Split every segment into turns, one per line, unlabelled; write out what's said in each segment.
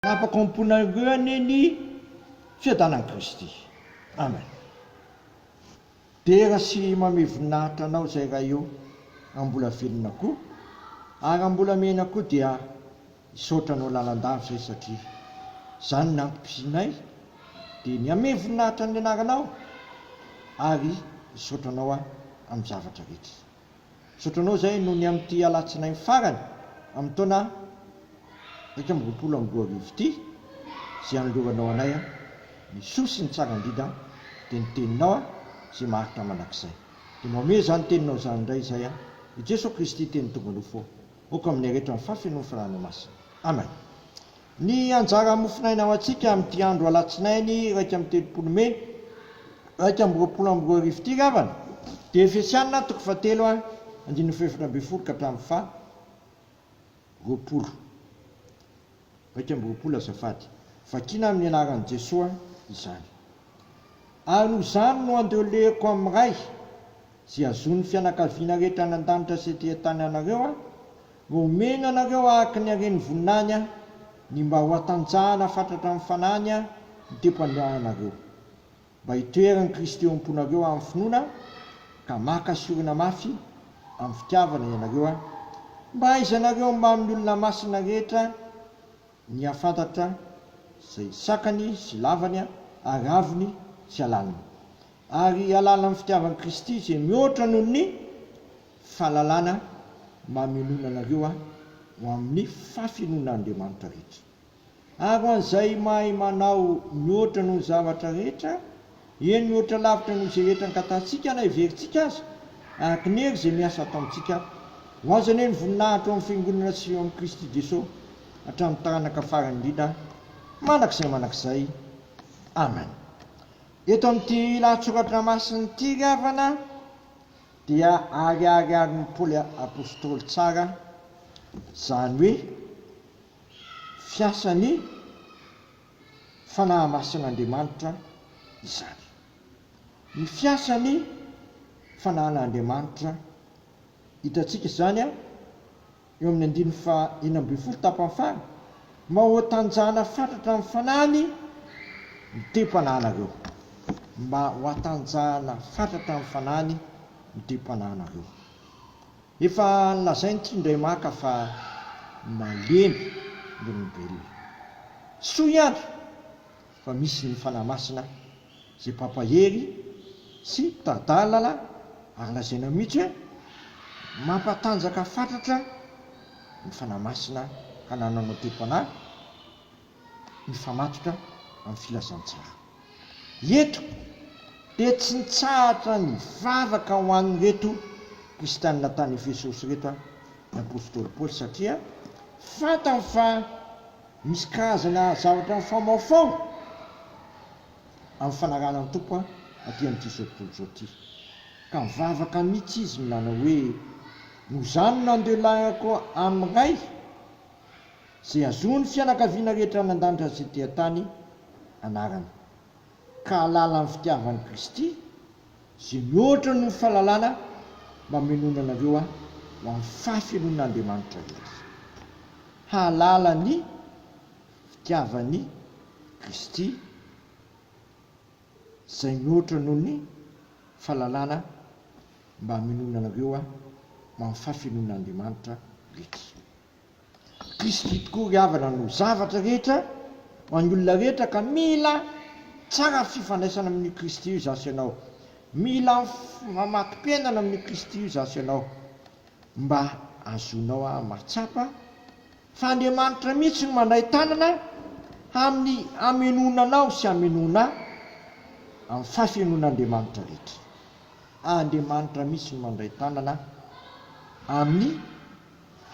Nampakamponareo anie ny fiadanan'i Kristy. Amen. Dera sy mamey voninahitra Anao izay Ray ô, raha mbola velona koa, ary raha mbola miaina koa dia hisaotra Anao lalandava izay satria izany ny antom-pisianay dia ny hamey voninahitra ny Anaranao ary hisaotra Anao aho amin'ny zavatra rehetra. Zotranao izay no ny amin'ity alatsinainy farany amin'ny taona iraika amby roapolo amby roa arivo ity izay anoloranao anay ny soa sy ny tsara indrindra dia ny teninao izay maharitra mandrakizay. Dia mba omeo izany teninao izany indray izay i Jesoa Kristy teny tonga nofo aoka amin'ny aretra ny fahafenoan'ny Fanahiny Masina. Amen. Ny anjara mofonaina ho antsika amin'ity andro Alatsinainy iraika amby telopolo Mey iraika amby roapolo amby roa arivo ity ravana dia Efesiana toko fahatelo a andininy fahefatra ambin'ny folo ka hatramin'ny faha roapolo iraika amby roapolo azafady, vakina amin'ny anaran'i Jesoa izany. Ary noho izany no andeoleko amin'ny Ray. Izay azon'ny fianakaviana rehetra any an-danitra sy ety an-tany anareo aho, no homeny anareo araka ny haren'ny voninahiny aho, ny mba ho hatanjahana fatratra amin'ny fanahiny aho ny tempohanareo, mba hitoeran'i Kristy eo am-ponareo amin'ny finoana, ka maka sy orina mafy amin'ny fitiavana ianareo aho, mba hahaizanareo ny mbamin'ny olona masina rehetra, Ny hahafantatra izay sakany sy lavany, aravony sy alalany. Ary alàlan'ny fitiavan'i Kristy izay mihoatra noho ny fahalalana mamenoana anareo ho amin'ny fahafenoan'Andriamanitra rehetra. Ary ho an'izay mahay manao mihoatra noho ny zavatra rehetra, Eny mihoatra lavitra noho izay rehetra angatahintsika na heverintsika aza, araka ny hery izay miasa ataontsika. Ho azy anie ny voninahitra ao amin'ny Fiangonana sy ao amin'i Kristy Jesoa hatramin'ny taranaka farany indrindra mandrakizay mandrakizay. Amen. Eto amin'ity lahatsoratra masina ity ry havana dia ariariarin'i Paoly Apostoly tsara izany hoe fiasan'ny fanahamasin'Andriamanitra izany. Ny fiasan'ny fanahin'Andriamanitra, hitantsika izany eo amin'ny andininy faha enina ambin'ny folo tapany faha, Maotanjahana fatratra amin'ny fanahiny ny tem-panahinareo. Mba ho atanjahana fatratra amin'ny fanahiny ny tem-panahinareo. Efa nolazainy ity indray maka fa malemy ny olombelona. Soa ihany fa misy ny Fanahy Masina izay mpampahery sy mpitari-dalana ary lazaina mihitsy hoe mampatanjaka fatratra ny Fanahy Masina hanananao te-panahy, mifamatotra amin'ny filazantsara. Eto dia tsy nitsahatra nivavaka ho an'ireto kristianina tany Efesosy ireto ny apostoly Paoly satria fantany fa misy karazana zavatra mifamaofao amin'ny fanarahana ny Tompo aty amin'izao tontolo izao ity. Ka nivavaka mihitsy izy nanao hoe, Noho izany nandeha lainga koa amin'ny Ray Izay azony ny fianakaviana rehetra nandanja an'izay dia tany anarany, ka hahalala ny fitiavan'i Kristy, izay mihoatra noho ny fahalalana mba hamenoana anareo ahy ho amin'ny fahafenoan'Andriamanitra rehetra. Hahalala ny fitiavan'i Kristy, izay mihoatra noho ny fahalalana mba hamenoana anareo ahy ho amin'ny fahafenoan'Andriamanitra rehetra. Kristy tokoa ry havana no zavatra rehetra ho an'ny olona rehetra ka mila tsara fifandraisana amin'io Kristy io izaho sy ianao. Mila mamatom-piainana amin'io Kristy io izaho sy ianao mba hahazoanao ahy mahatsapa fa Andriamanitra mihitsy no mandray tanana amin'ny hamenoana anao sy hamenoana ahy amin'ny fahafenoan'Andriamanitra rehetra. Andriamanitra mihitsy no mandray tanana amin'ny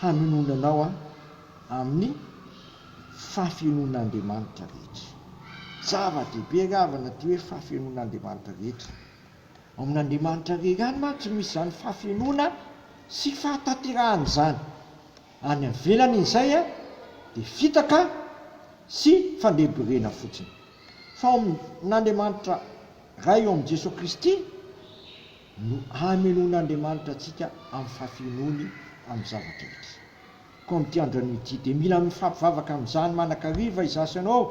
hanonona anao aho amin'ny fahafenoan'Andriamanitra rehetra. Zava-dehibe ny havana ity hoe fahafenoan'Andriamanitra rehetra. Ao amin'Andriamanitra irery ihany mantsy no misy izany fahafenoana sy fahatanterahana izany. Any avelan'izay dia fitaka sy fandrebirebena fotsiny. Fa ao amin'Andriamanitra Ray eo amin'i Jesoa Kristy, no hamenoan'Andriamanitra antsika amin'ny fahafenoany amin'ny zava-drehetra. Koa amin'ity andro anio ity dia mila mifampivavaka amin'izany manakariva izaho sy ianao,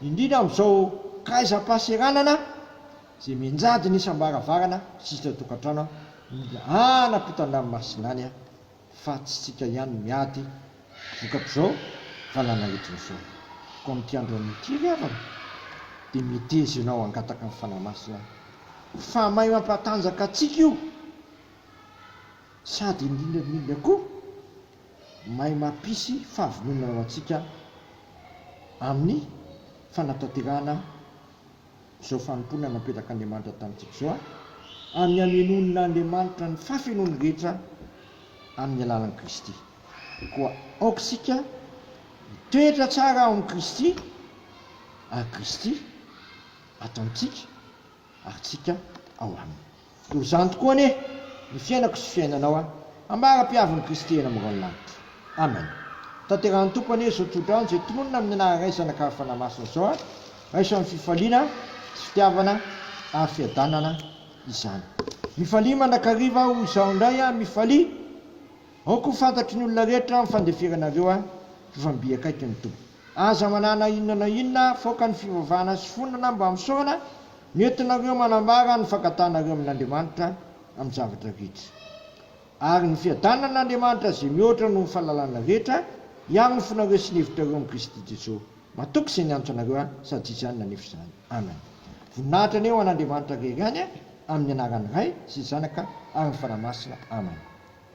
indrindra amin'izao kaizam-pahaseranana izay mianjady ny isam-baravarana sy isan-tokantrano, mila hanapitana ny masinany. fa tsy tsika ihany no miady vokatr'izao valala entiny izao koa amin'ity andro amin'ity ry havana dia meteza ianao hangataka ny fanahy masina fa mahay mampatanjaka antsika io sady indrindra indrindra koa mahay mampisy fahavononana ho antsika amin'ny fanatanterahana izao fanompoana napetrak'Andriamanitra tamintsika izao an, amin'ny hamenoan'Andriamanitra ny fahafenoany rehetra amin'ny alalan'i Kristy. Koa aoka isika hitoetra tsara ao amin'i Kristy, ary Kristy ato amintsika, ary tsika ao aminy. Toy izany tokoa anie ny fiainako sy fiainanao a! Ambara-pihavin'i Kristy eny amin'irony lanitra. Amen. Tanterahan'ny Tompo anie izao tsodrano izay tononina amin'ny anarany Ray, Zanaka ary Fanahy Masina izao a! Raiso amin'ny fifaliana sy fitiavana ary fiadanana izany. Mifalia mandrakariva aho izaho indray a! Mifalia! Aoka ho fantatry ny olona rehetra ny fandeferanareo ahy fa efa mby akaiky ny Tompo. Aza manana inona na inona afoaka ny fivavahana sy finoana na mba misaorana no entinareo manambara ny fankatanareo amin'Andriamanitra amin'ny zavatra rehetra. Ary ny fiadanan'Andriamanitra izay mihoatra noho ny fahalalana rehetra hiaro ny fonareo sy ny hevitrareo amin'i Kristy Jesoa. Matoky izay niantso anareo ahy sady izany nanefa izany. Amen. Voninahitra anie ho an'Andriamanitra rery any amin'ny anaran'ny Ray sy Zanaka ary ny Fanahy Masina. Amen.